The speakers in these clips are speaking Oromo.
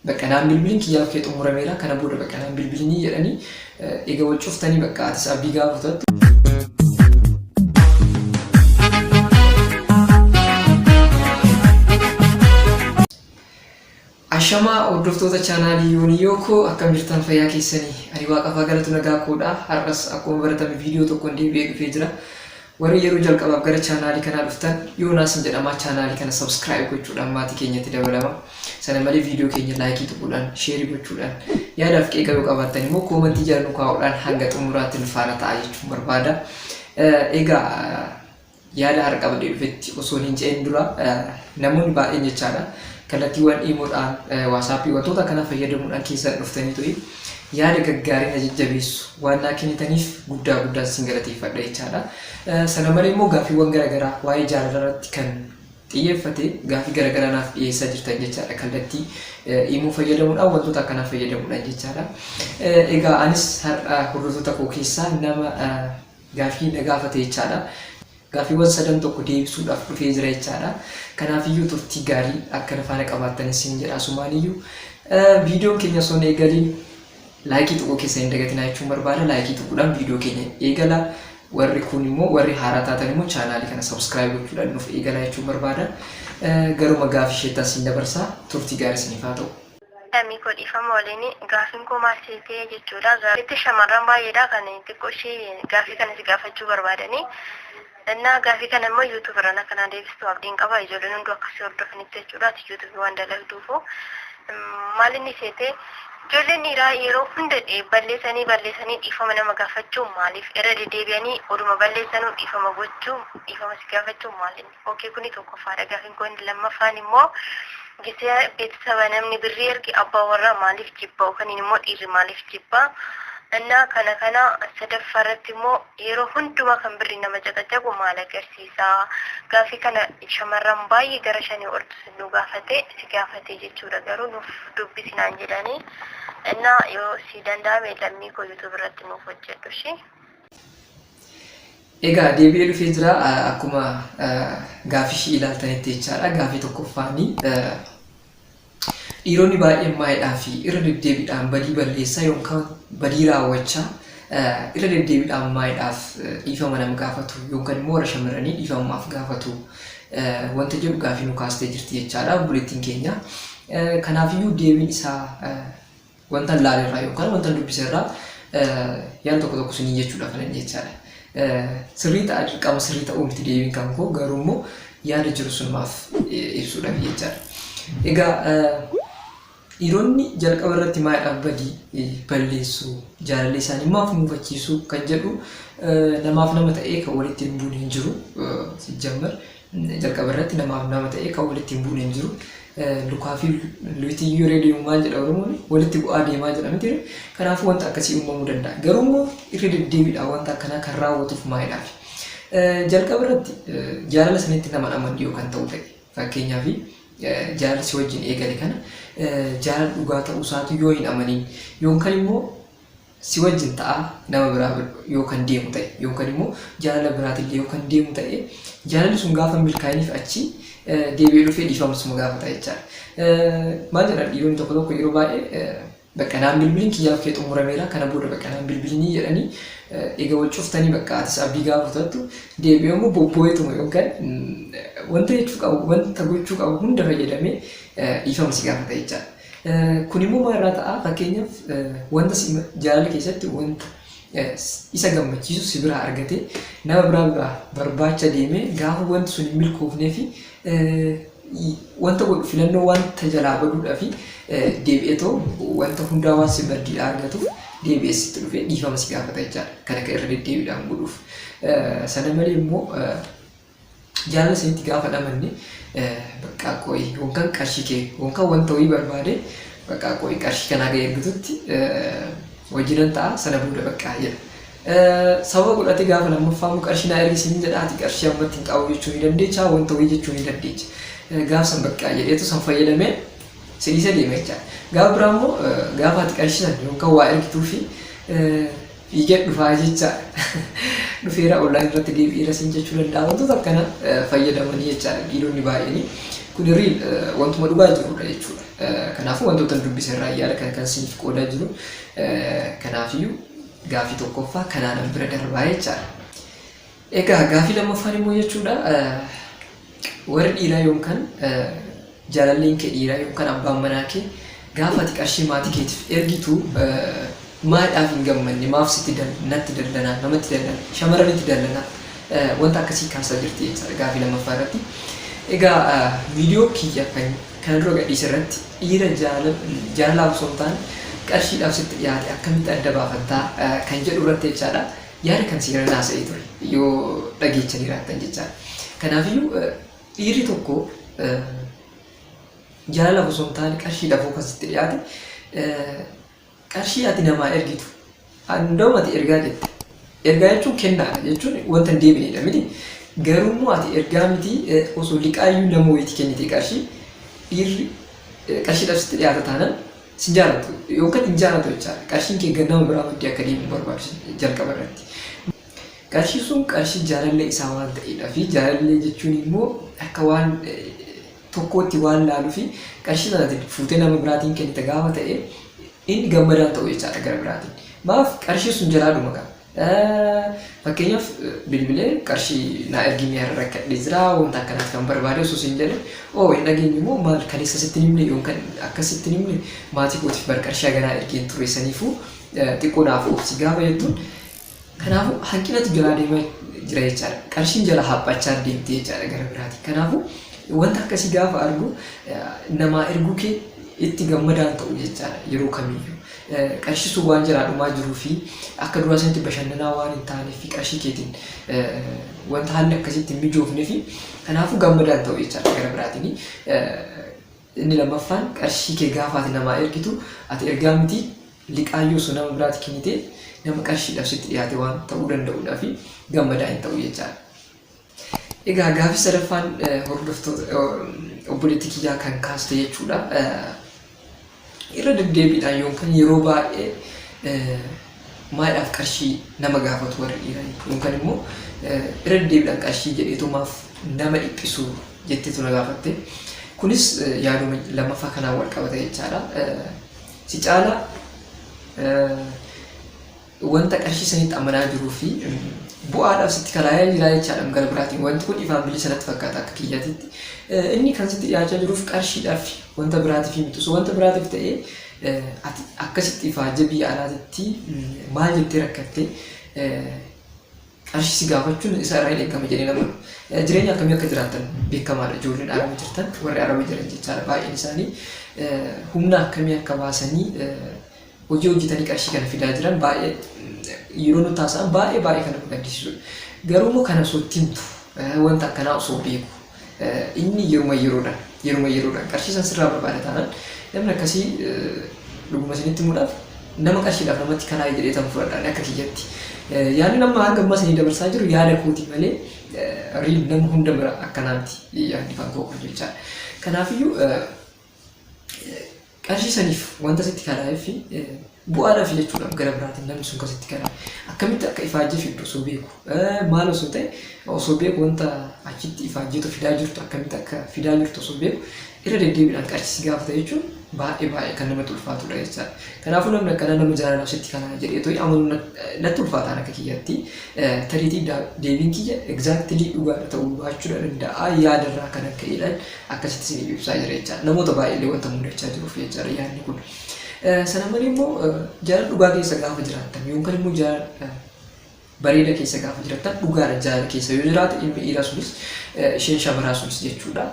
Baqa naan bilbilin kiyyaa okkee xumurameera kana booda baqa naan bilbilinii jedhanii ega wal cuftanii baqa atis abdii gaafa kutattu. Ashamaa hordoftoota chaanaalii Yooniyoo koo akkam jirtan fayyaa keessanii ani waaqafaa galatu nagaa koodha har'as akkuma baratame viidiyoo tokkoon deebi'ee dhufee jira. Warri yeroo jalqabaaf gara chaanaalii kanaa dhuftan Yoonaasin jedhama chaanaalii kana subscribe gochuudhaan maatii keenyatti dabalama. Sana malee viidiyoo keenya laayikii tuquudhaan, sheerii gochuudhaan, yaadaa fi qeeqa yoo qabaattan immoo koomantii jala nu kaa'uudhaan hanga xumuraatti nu faana ta'aa jechuun barbaada. Egaa yaada har'a qabadhee dhufetti osoon hin ce'in dura namoonni baay'een jechaadha kallattiiwwan iimoodhaan waasaappii wantoota kana fayyadamuudhaan keessan dhuftanii tu'i. yaada gaggaarii na jajjabeessu waan naa kennitaniif guddaa guddaan sin galateeffadha jechaadha. Sana malee immoo gaaffiiwwan garaagaraa waa'ee jaalalaa irratti kan xiyyeeffate gaaffii garaagaraa naaf dhiyeessaa jirtan jechaadha kallattii immoo fayyadamuudhaan wantoota akkanaa fayyadamuudhaan jechaadha. Egaa anis har'a hordoftoota koo keessaa nama gaaffii na gaafate jechaadha. Gaaffiiwwan sadan tokko deebisuudhaaf dhufee jira jechaadha. Kanaafiyyuu turtii gaarii akka na faana qabaattan isiniin jedha asumaaniyyuu. Viidiyoon keenya osoo hin eegaliin laayikii tuquu keessa hin dagatinaa jechuun barbaada. Laayikii tuquudhaan viidiyoo keenya eegala. Warri kun immoo warri haaraa taatan immoo chaanaalii kana sabskiraayib gochuudhaan nuuf eegala jechuun barbaada. Garuma gaafii isheetti asiin dabarsaa turtii gaarii isiniif haa ta'u. Lamii koo dhiifama waliin gaafiin koo maal seetee jechuudha gaaffitti shamarran baay'eedha kan xiqqoo ishee gaafii kana si gaafachuu barbaadanii innaa gaafii kana immoo yuutuub irraan akka naa deebistu abdiin qaba ijoolleen hunduu akka si hordofanitti jechuudha ati yuutuubii waan dalagduufu maal inni seetee ijoolleen dhiiraa yeroo hunda balleessanii balleessanii dhiifama nama gaafachuu maaliif irra deddeebi'anii oduma balleessanuu dhiifama gochuu dhiifama si gaafachuu maal inni Ok kuni tokkoffaadha gaafin koo inni lammaffaan immoo gisee beetisaba namni birrii erge abbaa warraa maaliif jibba yookaan immoo dhiirri maaliif jibba innaa kana kana sadaffaa irratti immoo yeroo hundumaa kan birrii nama caqacaqu maal agarsiisa gaafii kana shamarran baay'ee gara shanii ol nu gaafate si gaafate jechuudha garuu nuuf dubbisi naan jedhanii innaa yoo si danda'ame lammii koo yuutuub irratti nuuf hojjedhu ishee. Egaa deebi'ee dhufee jira akkuma gaaffishi ilaaltanitti jechaadha. Gaaffii tokkoffaani dhiironni baay'een maayidhaa fi irra deddeebiidhaan badii balleessaa yookaan badii raawwachaa irra deddeebiidhaan maayidhaaf dhiifama nam gaafatu yookaan immoo warra shamarranii dhiifama maaf gaafatu wanta jedhu gaaffii nu kaastee jirti jechaadha obboleettiin keenya. Kanaafiyyuu deebiin isaa Wantan laale irraa yookaan wantan dubbise irraa yaada tokko tokko isiniin jechuudha kan inni jechaadha. Sirrii ta'a dirqama sirrii ta'uu miti deebiin kan koo garuu immoo yaada jiru sunumaaf ibsuudhaaf jechaadha. Egaa dhiironni jalqaba irratti maadhaaf badii balleessu jaalallee isaanii maaf muufachiisu kan jedhu namaaf nama ta'ee kan walitti hin buune hin jiru sijjammer Jalqaba irratti namaaf nama ta'ee kan walitti hin buune hin jiru. Lukaa fi luyti iyyuu irree deemu maal jedha Oromoon walitti bu'aa deemaa jedha miti. Kanaafuu wanta akkasii uumamuu danda'a. Garuu immoo irra deddeebiidhaan wanta akkanaa kan raawwatuuf maayidhaaf. Jalqaba irratti jaalala sanitti nama dhaman yoo kan ta'u ta'e fakkeenyaaf jaalala si wajjin eegale kana jaalala dhugaa ta'uu isaatu yoo hin amanin yookaan immoo si wajjin ta'aa nama biraa bira yoo kan deemu ta'e yookaan immoo jaalala biraatillee yoo kan deemu ta'e jaalalli sun gaafa hin milkaa'iniif achi eh, deebi'ee dhufee dhiifama suma gaafata jechaadha. Eh, Maal jedhan dhiironni tokko tokko yeroo baay'ee eh, bakka naan bilbiliin kiyyaaf kee xumurameera kana booda bakka naan bilbilinii jedhanii eh, egaa wal cuftanii bakka atis abdii gaafa kutattu deebi'ee immoo bobboo'eetuma yookaan mm, wanta jechuu qabu wanta gochuu qabu hunda fayyadamee eh, dhiifama si gaafata jechaadha. Kun immoo maal irraa ta'a? Fakkeenyaaf wanta si jaalala keessatti wanta isa gammachiisu si biraa argatee nama biraa biraa barbaacha deemee gaafa wanti sun hin milkoofnee fi wanta godhu filannoo wanta jalaa baduudhaa fi deebi'ee too wanta hundaa waan si baddiidhaa argatuuf deebi'ee sitti dhufee dhiifama si gaafata jechaadha. Kana kan irra deddeebiidhaan godhuuf. Sana malee immoo Jaalala isinitti gaafa dhamanne bakka qo'i yookaan qarshii kee yookaan wanta wayii barbaade bakka qo'i qarshii kanaa ga'e ergitutti wajjinan ta'a sana booda bakka jedha. Sababa godhate gaafa lammaffaa immoo qarshii naa ergi siin jedha ati qarshii ammatti hin qabu jechuu ni dandeecha wanta wayii jechuu ni dandeecha. Gaafa san bakka jedheetu san fayyadamee si dhiisee deema jechaadha. Gaafa biraa immoo gaafa ati qarshii san yookaan waa ergituu fi Fiigeen dhufaa jechaa dhufeera online irratti deebi'eera siin jechuu danda'a. Wantoota akkana fayyadamanii jechaadha dhiironni baay'een. Kun riil wantuma dhugaa jirudha jechuudha. Kanaafuu wantoota dubbise irraa yaada kan kan siiniif qoodaa jiru. Kanaafiyyuu gaaffii tokkoffaa kanaanan bira darbaa jechaadha. Egaa gaafii lammaffaan immoo jechuudha warri dhiiraa yoomkan jaalalleen kee dhiiraa yoomkan abbaan manaa kee gaafa ati qarshii maatii keetiif ergitu maadhaaf hin gammanne maaf sitti natti dallanaa namatti dallana shamarranitti dallana wanta akkasii kaasaa jirti jechaadha gaafii lammaffaa irratti. Egaa viidiyoo kiyya kan kana dura gadhiise irratti dhiira jaalalaaf osoo hin taane qarshiidhaaf sitti dhiyaate akkamitti adda baafattaa kan jedhu irratti jechaadha. Yaada kan seenaan haasa'ee ture yoo dhageechan jiraattan jechaadha. Kanaafiyyuu dhiirri tokko jaalalaaf osoo hin taane qarshiidhaaf kan sitti dhiyaate qarshii ati namaa ergitu hunda'uma ati ergaa jette ergaa jechuun kennaadha jechuun wanta hin deebineedha miti garuu immoo ati ergaa miti osoo liqaayyuu nama wayiitti kennite qarshii dhiirri qarshiidhaaf sitti dhiyaata taanaan Sin jaalatu yookan hin jaalatu jechaadha. Qarshiin kee nama biraa fuudhee akka deemu hin barbaadu jalqaba irratti. Qarshiin sun qarshii jaalallee isaa waan ta'eedha fi jaalallee jechuun immoo akka waan tokkootti waan laaluu fi qarshii sanaatiin fuutee nama biraatiin kennite gaafa ta'e inni gammadaan ta'u jechaadha gara biraatiin. Maaf qarshiin sun jalaadhuma qaba. Fakkeenyaaf bilbilee qarshii naa ergimee har'a rakkadhee jira wanta akkanaati kan barbaade osoo siin jedhe oo hin dhageenye immoo maal kaleessa sitti hin himne yoon kan akkas sitti hin himne maatii kootiif bar qarshii haganaa ergeen ture saniifuu xiqqoo naaf obsi gaafa jettuun kanaafuu hanqinatu jalaa deemaa jira jechaadha qarshiin jala haphachaa deemti jechaadha gara biraati kanaafuu wanta akkasii gaafa argu namaa erguu kee itti gammadaan ta'u jechaadha yeroo kamiyyuu. Qarshii sun waan jalaa dhumaa jiruu fi akka duraa sanatti bashannanaa waan hin taaneef fi qarshii keetiin wanta haalli akkasitti hin mijoofne fi kanaafuu gammadaa hin ta'u jechaadha gara biraatiin. Inni lammaffaan qarshii kee gaafa ati namaa ergitu ati ergaa miti liqaayyuu osoo nama biraatti kennite nama qarshiidhaaf sitti dhiyaate waan ta'uu danda'uudhaa fi gammadaa hin ta'u jechaadha. Egaa gaafii sadaffaan hordoftoota obboleettii kiyyaa kan kaaste jechuudha. Irra deddeebiidhaan yookaan yeroo baay'ee maadhaaf qarshii nama gaafatu warri dhiiraa jechuudha. Yookaan immoo irra deddeebiidhaan qarshii jedheetu maaf nama dhiphisu jetteetu na gaafatte. Kunis yaaduma lammaffaa kanaan wal qabata jechaadha. Si caalaa wanta qarshii sanitti amanaa jiruu fi bu'aadhaaf sitti kalaayee jira jechaadha gara biraatiin wanti kun ifaan bilisa natti fakkaata akka kiyyatitti inni kan sitti dhiyaachaa jiruuf qarshiidhaaf wanta biraatiif hin bitus wanta biraatiif ta'ee ati akkasitti ifaajee biyya alaatitti maal jettee rakkattee qarshii si gaafachuun isa irraa hin eegamu jedhee namanu. Jireenya akkamii akka jiraattan beekamaadha ijoolleen araba jirtan warri araba jiran jechaadha baay'een isaanii humna akkamii akka baasanii hojii hojjetanii qarshii kana fidaa jiran baay'ee yeroo nutti haasa'an baay'ee baay'ee kan nama gaddisiisudha. Garuu immoo kana osoo itti himtu wanta akkanaa osoo beeku Inni yeruma yeroodhaan yeruma yeroodhaan qarshii san sirraa barbaada taanaan namni akkasii dhuguma isinitti himuudhaaf nama qarshiidhaaf namatti kanaa'e jedhee tan fudhadhaan akka kiyyatti. Yaadni nama hanga ammaa isinii dabarsaa jiru yaada kooti malee riil nama hunda bira akkanaa miti yaadni kan koo kun jechaadha. Kanaafiyyuu Qarshii saniif wanta sitti kalaa'eeffi bu'aadhaaf jechuudhaaf gara biraatiin namni sun kan sitti kalaa'e akkamitti akka ifaajjii fiddu osoo beeku maal osoo ta'e osoo beeku wanta achitti ifaajjiitu fidaa jirtu akkamitti akka fidaa jirtu osoo beeku irra deddeebiidhaan qarshii si gaafata jechuun baay'ee baay'ee kan namatti ulfaatudha jechaadha. Kanaafuu namni akkanaa nama jaalalaaf sitti kanaa jedhee to'ii amanuun nat- natti ulfaataan akka kiyyatti eh, tariitii daa- deebiin kiyya exactly dhugaadha ta'uu baachuudha danda'a yaadarraa kan akka jedhan akkasitti isiniif ibsaa jira jechaadha. Namoota baay'eellee wanta mudachaa jiruuf jechaadha yaadni kun. Sana malee immoo jaalala dhugaa keessa gaafa jiraattan yookaan immoo jaalala bareeda keessa gaafa jiraattan dhugaadha jaalala keessa yoo jiraate ilmi dhiiraa sunis isheen shamarraa sunis jechuudha.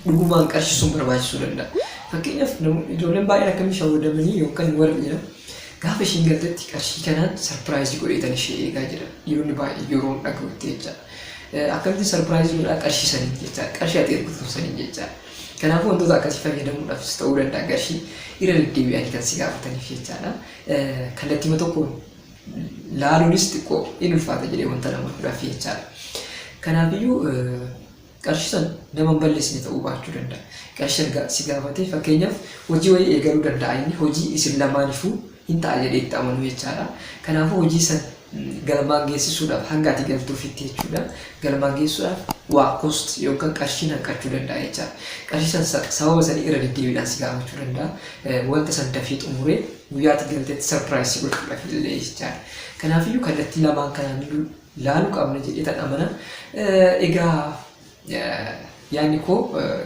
Dhugumaan qarshisuun barbaachisuu danda'a. Fakkeenyaaf ijoolleen baay'een akkamii shawwadamanii yookaan warra dhiiraa gaafa isheen galtetti qarshii kanaan sarpiraayizii godheetan ishee eegaa jira. Dhiironni baay'een yeroo dhaga'utti jechaadha. Akkamitti surprise godhaa qarshii saniin jecha qarshii ati ergituun saniin jecha kanaafuu wantoota akkasii fayyadamuudhaafis ta'uu danda'a qarshii irra deddeebi'anii kan si gaafataniif jechaadha kallattiima tokkoon laaluunis xiqqoo in ulfaata jedhee wanta nama fudhaaf jechaadha kanaafiyyuu qarshii san nama hin balleessine ta'uu baachuu danda'a qarshii san si gaafatee fakkeenyaaf hojii wayii eegaluu danda'a inni hojii isin lamaanifuu hin ta'a jedhee itti amanu jechaadha. Kanaafuu hojii san galmaan geessisuudhaaf hanga ati galtuufitti jechuudha. Galmaan geessisuudhaaf waa cost yookaan qarshiin hanqachuu danda'a jechaadha. Qarshii san sa- sababa sanii irra deddeebiidhaan si gaafachuu danda'a. Eh, Wanta san dafee xumuree guyyaa ati galtetti surprise si gochuudhaaf illee jechaadha. Kanaafiyyuu kallattii lamaan kanaan laaluu qabna jedhee tan amana. Eh, Egaa Yaadni koo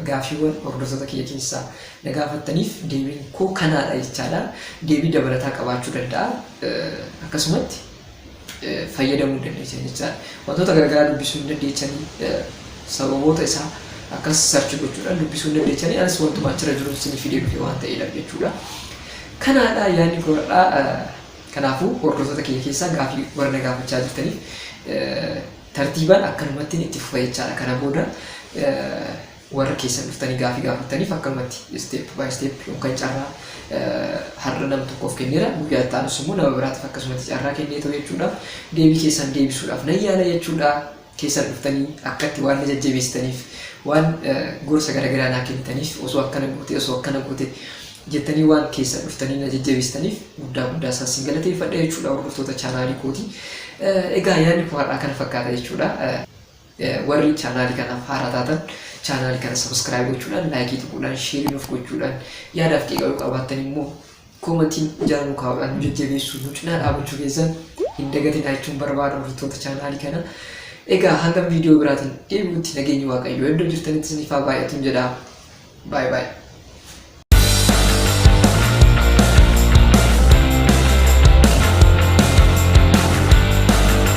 gaaffiiwwan hordoftoota kiyya keessaa na gaafattaniif deebiin koo kanaadha jechaadha. Deebii dabalataa qabaachuu danda'a. Akkasumatti fayyadamuu hin dandeessan jechaadha. Wantoota garagaraa dubbisuu hin dandeessanii sababoota isaa akkas sarchi gochuudhaan dubbisuu hin dandeessanii anis wantuma achirra jiru isin fidee dhufe waan ta'eedhaaf jechuudha. Kanaadha yaadni koo har'aa. Kanaafuu hordoftoota kiyya keessaa gaaffii warra na gaafachaa jirtaniif Tartiibaan akkanumattin itti fufa jechaadha. Kana booda warra keessan dhuftanii gaafii gaafattaniif akkanumatti step by step yookaan carraa har'a nama tokkoof kenneera guyyaa itti aanus immoo nama biraatiif akkasumatti carraa kenneetoo jechuudha. Deebii keessan deebisuudhaaf nan yaala jechuudha. Keessan dhuftanii akkatti waan na jajjabeessitaniif waan gorsa garaagaraa naa kennitaniif osoo akkana goote osoo akkana goote jettanii waan keessan dhuftanii na jajjabeessitaniif guddaa guddaa isaan sin galateeffadha jechuudha hordoftoota chaanaalii kooti. Egaa yaadni koo har'aa kana fakkaata jechuudha. Warri chaanaalii kanaaf haaraa taatan chaanaalii kana sabiskiraayib gochuudhaan laayikii tuquudhaan sheerii nuuf gochuudhaan yaadaaf qeeqaluu qabaattan immoo koomantiin jala nu kaa'uudhaan nu jajjabeessuu nu cinaa dhaabachuu keessan hin dagatinaa jechuun barbaada hordoftoota chaanaalii kana. Egaa hanga viidiyoo biraatiin deebi'utti nageenyi waaqayyoo iddoo jirtanitti isiniif haa baay'atu jedha. Bye bye.